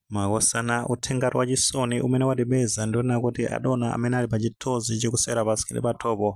makosana uthengati wa chisoni umene watipeza ndi onena kuti adona amene ali pa chithunzi chikusewera pasikirini pathupo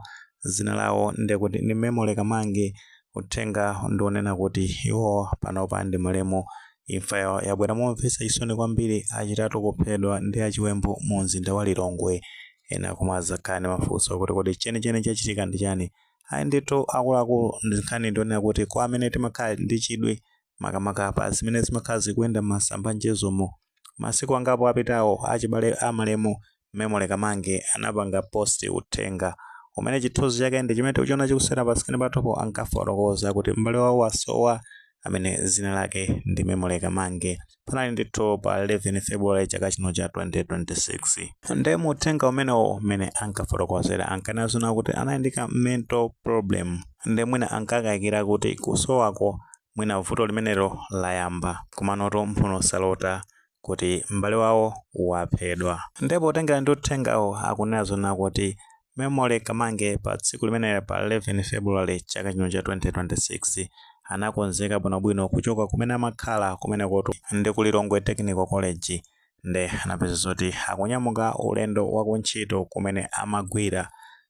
zina lawo ndikuti ndi memory kamange uthenga ndi onena kuti iwo panopa ndi malemu imfa yawo yabwera momvetsa chisoni kwambiri achitatu kuphedwa ndi achiwembu mu mzinda wa lilongwe ena mudzakhala ndi mafunso kuti kodi chenicheni chachitika ndi chani ayi ndithu akuluakulu nkhani ndi yonena kuti kwa amene timakhala ndi chidwi makamaka pa zimene zimakhala zikuyenda m'masamba a mchezomo. Masiku angapo apitawo, achibale a malemu Memory Kamange anapanga positi uthenga umene chithunzi chake ndi chimene tikuchiona chikusewera pasikrini pathupo ankafotokoza kuti m'bale wawo wasowa amene dzina lake ndi Memory Kamange. Panali ndithu pa 11 February chaka chino cha 2026. Ndiye mu uthenga umenewo mmene ankafotokozera ankanena zoona kuti anali ndi ka mental problem ndiye mwina ankakayikira kuti kusowako mwina vuto limenelo layamba komanotu mphuno salota kuti m'bale wawo waphedwa nde potengera ndi uthengawo akunena zoona kuti memory kamange pa tsiku limenelo pa 11 february chaka chino cha 2026 anakonzeka bwinobwino kuchoka kumene amakhala kumenekotu ndi ku lilongwe technical college nde anaphedza zoti akunyamuka ulendo wakuntchito kumene amagwira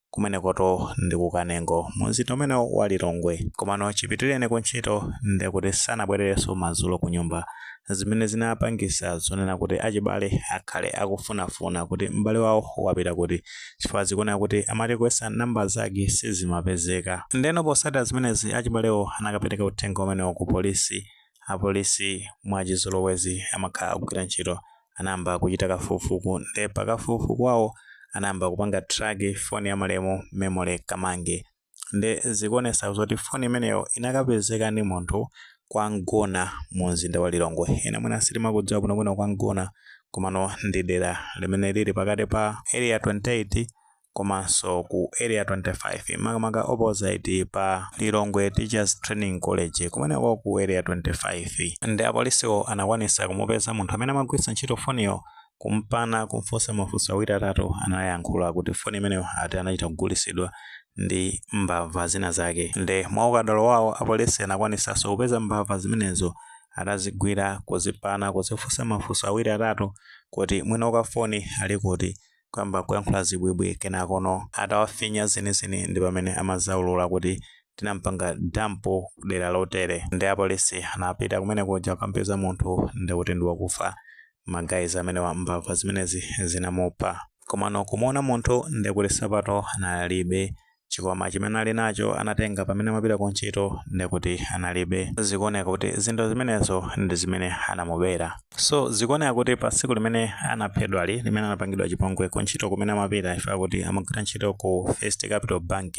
kumenekotu ndi ku kanengo mu mzinda umenewo wa lilongwe komano chipitireni ku ntchito ndi kuti sanabwererenso madzulo ku nyumba zimene zinapangisa zonena kuti achibale akhale akufunafuna kuti m'bale wawo wapita kuti chifukwa zikuoneka kuti amati kuyesa namba zake sizimapezeka ndeno potsatira zimenezi achibalewo anakapereka uthenga umenewo ku polisi Apolisi mwachizolowezi amakhala akugwira ntchito anayamba kuchita kafukufuku nde pa kafukufuku wawo anayamba kupanga track phone ya malemu Memory Kamange nde zikuonesa zoti phone imeneyo inakapezeka ndi munthu kwa Mgona mu mzinda wa Lilongwe. Ena mwina sitimakudziwa bwinobwino kwa Mgona komano ndi dera limene lili pakati pa Area 28 komanso ku area 25 makamaka opposite pa lilongwe teachers training college kumeneko ku area 25 nde apolisiwo anakwanisa kumupeza munthu amene amagwiritsa ntchito foniyo kumpana kumfunsa mafunso awiri atatu anayankhula kuti foni imeneyo ati anachita kugulisidwa ndi mbava zina zake nde mwa ukadalo wawo apolisi anakwanisanso kupeza mbava zimenezo atazigwira kuzipana kuzifunsa mafunso awiri atatu kuti mwini wake foni ali kuti kuyamba kuyankhula zibwibwi kenakono atawafinya zenizeni ndi pamene amadzaulula kuti tinampanga dampu kudera lotere nde apolisi anapita kumene kuja kukampeza munthu ndi kuti ndi wakufa magayizi amenewa mbava zimenezi zinamupha komano kumuona munthu ndi kuti sapato analibe chikwama chimene ali nacho anatenga pamene amapita ku ntchito nde kuti analibe zikuoneka kuti zinthu zimenezo ndi zimene anamubera so zikuoneka kuti pa tsiku limene anaphedwali limene anapangidwa chipongwe ku ntchito kumene amapita chifukwa akuti amagwira ntchito ku first capital bank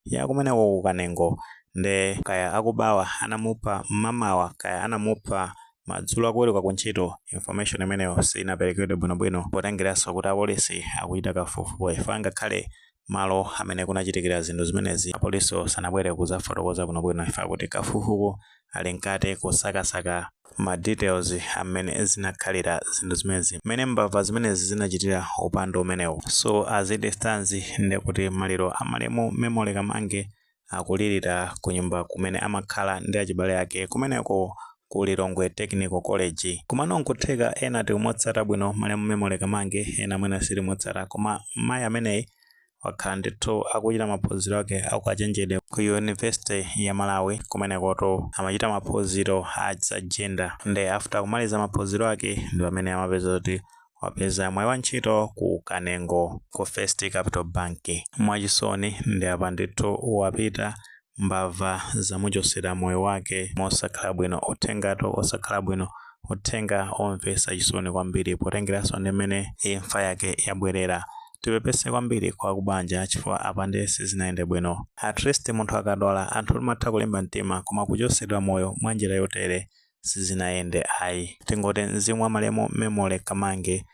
ya kumeneko ku kanengo nde kaya akubawa anamupha mmamawa kaya anamupha madzulo akuweruka ku ntchito information imeneyo sinaperekedwe bwinobwino potengeranso kuti apolisi akuchita kafukufuku chifukwa ngakhale malo amene kunachitikira zinthu zimenezi apolisiwo sanabwere kuzafotokoza bwino bwino chifukwa akuti kafukufuku ali mkati kusakasaka ma details a mmene zinakhalira zinthu zimenezi mmene mbava zimenezi zinachitira upandu umenewu so as it stands ndekuti maliro a malemu Memory Kamange akulirira kunyumba kumene amakhala ndi achibale ake kumeneko ku Lilongwe Technical College. Komano n'kutheka ena tikumutsata bwino malemu Memory Kamange, ena mwina sitimutsata. Koma mayi ameneyi wakhala ndithu akuchita maphunziro ake aukachenjede ku Yunivesite ya Malawi. Kumenekotu amachita maphunziro a za jenda nde after kumaliza maphunziro ake ndi pamene amapeza zoti wapeza mwayi wa ntchito ku Kanengo ku First Capital Bank. Mwachisoni ndi apa ndithu wapita mbava zamuchosera moyo wake mosakhala bwino uthengatu osakhala bwino uthenga omvesa chisoni kwambiri potengeranso ndi mmene imfa yake yabwerera tipepese kwambiri kwa akubanja chifukwa apa ndiye sizinayende bwino at least munthu akadwala anthu timatha kulimba mtima koma kuchosedwa moyo mwa njira yotere sizinayende ayi tingoti mzimu wa malemu memory kamange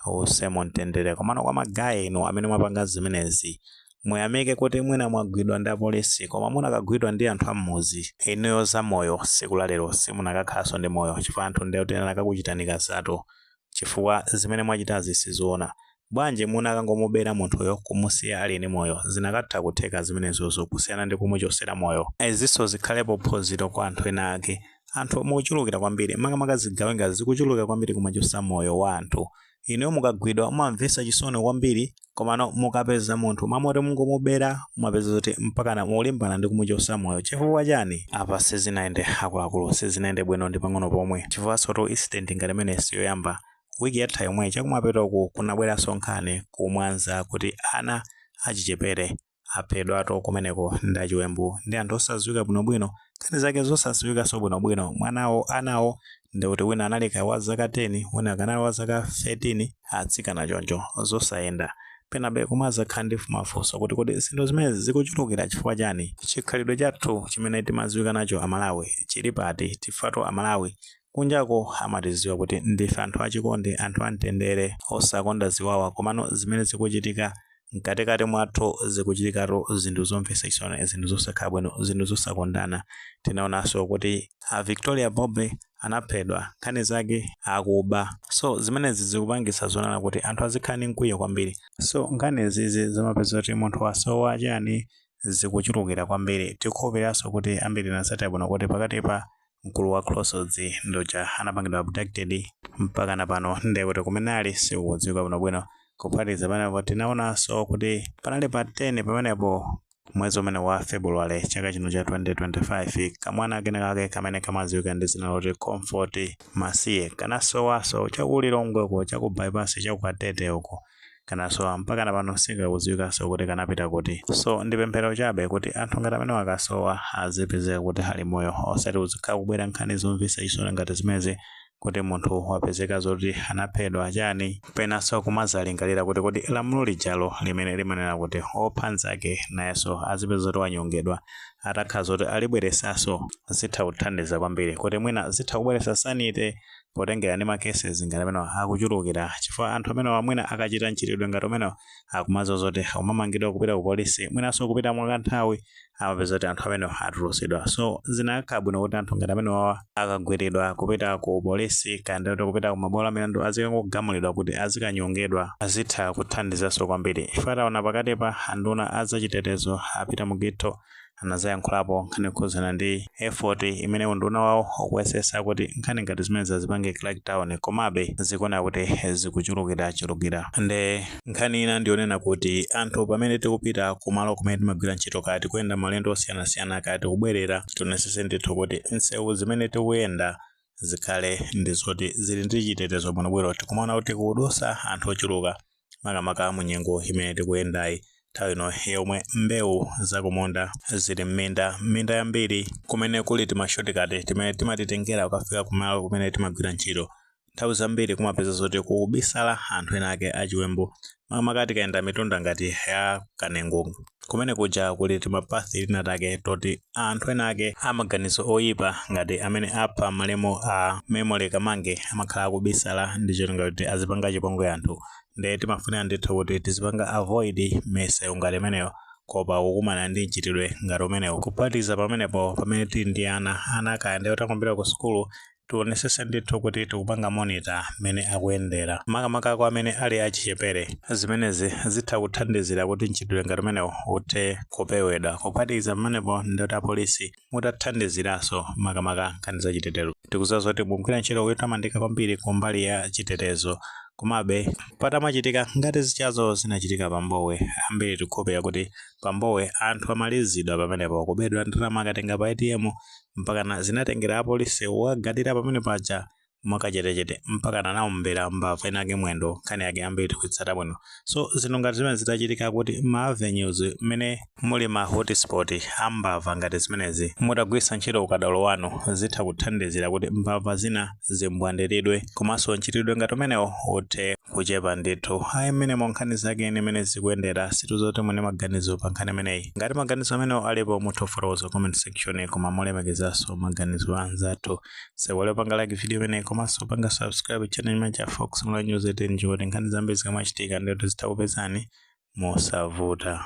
uuse mumtendere komano kwa magaye inu amene mwapanga zimenezi muyamike kuti mwina mwagwidwa ndi apolisi koma munakagwidwa ndi anthu ammuzi inuyo za moyo siku lalero simunakakhalanso ndi moyo chifukwa anthu nde kuti anakakuchitani kazatu chifukwa zimene mwachitazi sizoona. Bwanji munakangomubera munthuyo kumusiya ali ndi moyo zinakatha kutheka zimenezozo kusiyana ndi kumuchosera moyo. Izinso zikhalepo phunziro kwa anthu ena ake. Anthu mukuchulukira kwambiri makamaka zigawenga zikuchulukira kwambiri kumachosa moyo wa anthu. Inuyo mukagwidwa mumamvesa chisoni kwambiri komano mukapeza munthu mmalo moti mungomubera mumapeza zoti mpakana mulimbana ndi kumuchosa moyo chifukwa chani apa sizinayende akuluakulu sizinayende bwino ndi pang'ono pomwe chifukwa sotu incident ngati imeneyi siyoyamba wiki yatha yomwe chakumapetoku kunabweranso nkhani kumwanza kuti ana achichepere Aphedwatu kumeneko ndi achiwembu ndi anthu osadziwika bwinobwino, nkhani zake nzosadziwikanso bwinobwino. Mwanawo, anawo, ndi kuti wina anali kaya wa zaka 10, wina kaya anali wa zaka 13, atsikana choncho. Zosayenda. Penabe kumadzakhala ndi mafunso kuti kodi zinthu zimenezi zikuchulukira chifukwa chani? Chikhalidwe chathu chimene timadziwika nacho Amalawi chili pati? Chifukwa-tu Amalawi kunjako amatidziwa kuti ndife anthu achikondi, anthu amtendere, osakonda ziwawa, komano zimene zikuchitika mkatikati mwathu zikuchitikatu zinthu zomvetsa chisoni, zinthu zosakhala bwino, zinthu zosakondana. Tinaonanso kuti a Victoria Bobe anaphedwa, nkhani zake akuba. So zimenezi zikupangitsa zonena kuti anthu azikhala ndi mkwiyo kwambiri. So nkhani zizi zomapeza kuti munthu wasowa chani zikuchulukira kwambiri. Tikukhulupiriranso kuti ambiri tinatsatira bwino kuti pakatipa mkulu wa Crossroads uja anapangidwa abducted mpakana pano ndi kuti kumene ali sikukudziwika bwinobwino. Kuphatikiza pamenepo tinaonanso kuti panali pa 10 pamenepo mwezi umene wa February chaka chino cha 2025 kamwana kenakake kamene kamadziwika ndi dzina loti Comfort Masiye kanasowanso cha ku Lilongwe uko cha ku bypass cha ku Katete uko kanasowa mpaka na pano sikakudziwikanso kuti kanapita kuti so ndi pemphero chabe kuti anthu ngati amenewa akasowa azipezeka kuti ali moyo osati zizikhala kubwera nkhani zomvetsa chisoni ngati zimenezi kuti munthu wapezeka zoti anaphedwa chani penanso kumazalingalira kuti kodi lamulo lijalo limene limanena kuti opha nzake nayenso azipezeka zoti wanyongedwa atakhala zoti alibweretsanso zitha kuthandiza kwambiri kuti mwina zitha kubweretsa sanity potengera ndi ma cases ngati amenewa akuchulukira chifukwa anthu amenewa mwina akachita mchitidwe ngati umenewu akumadziwa zoti akamamangidwa kupita ku polisi mwinanso kupita mwakanthawi amapeza kuti anthu amenewa atulutsidwa so zinakakhala bwino kuti anthu ngati amenewa akagwiridwa kupita ku polisi kapena kuti kupita ku mabwalo a milandu azikangogamulidwa kuti azikanyongedwa zitha kuthandizanso kwambiri chifukwa taona pakatipa anduna a zachitetezo a Peter Mukhito anadzayankhulapo nkhani yokhudzana ndi effort imene unduna wawo ukuyesetsa kuti nkhani ngati zimenezi azipange crackdown komabe zikuoneka kuti zikuchulukirachulukira nde nkhani ina ndiyonena kuti anthu pamene tikupita kumalo kumene timagwira ntchito kaya tikuyenda maulendo osiyanasiyana kaya tikubwerera tionetsetse ndithu kuti misewu zimene tikuyenda zikhale ndi zoti zili ndi chitetezo bwinobwino tikumaona kuti kukudutsa anthu ochuluka makamaka mu nyengo imene tikuyendayi nthawi ino yomwe mbewu zakumunda zili m'minda m'minda yambiri kumene kuli timashotikati timene timatitengera kukafika kumalo kumene timagwira ntchito nthawi zambiri kumapeza zoti kukubisala anthu ena ake achiwembu makamaka tikayenda mitunda ngati ya kanengo kumene kuja kuli timapath tina take toti anthu ena ake a maganizo oyipa ngati amene apha malemu a Memory Kamange amakhala akubisala ndi cholinga choti azipanga chipongwe anthu nde timafunika ndithu kuti tizipanga avoid misewu ngati imeneyo kuopa kukumana ndi mchitidwe ngati umenewu. Kuphatikiza pamenepo pamene tili ndi ana, ana kaya ndi otha msinkhu ombera ku sukulu tionesese ndithu kuti tikupanga monitor mmene akuyendera makamaka kwa amene ali achichepere zimenezi zitha kuthandizira kuti mchitidwe ngati umenewu uthe kupewedwa kuphatikiza pamenepo ndoti apolisi mutathandiziranso makamaka nkhani za chitetezo tikuziwa zoti mugwira ntchito yotamandika kwambiri ku mbali ya chitetezo komabe patamachitika ngati zijazo zinachitika pambuyo ambiri tikhulupirira kuti pambuyo anthu amalizidwa pamenepo kubedwa ndalama akakatenga pa atm mpakana zinatengera apolice kukadikira pamene paja mwakachetechete mpakana anaombera mbava inayake mwendo nkhani yake ambiri tikuyitsata bwino so zinthu ngati zimenezi zitachitika kuti m'ma avenues mmene muli ma hotspot a mbava ngati zimenezi mutagwiritsa ntchito ukadaulo wanu zitha kuthandizira kuti mbava zina zimbwandidwe komanso mchitidwe ngati umenewo uthe kuchepa ndithu ayi mmenemo nkhani zakenso ndi mmene zikuyendera sitidziwa kuti muli ndi maganizo pa nkhani imeneyi ngati maganizo amenewo alipo mutha kufotokoza mu comment section koma molemekezanso maganizo a anzathu osaiwala kupanga like video imeneyi komanso kupanga subscribe channel imene cha fox mula news 18 ndi cholinga choti nkhani zambiri zikamachitika ndithu zidzikupezani mosavuta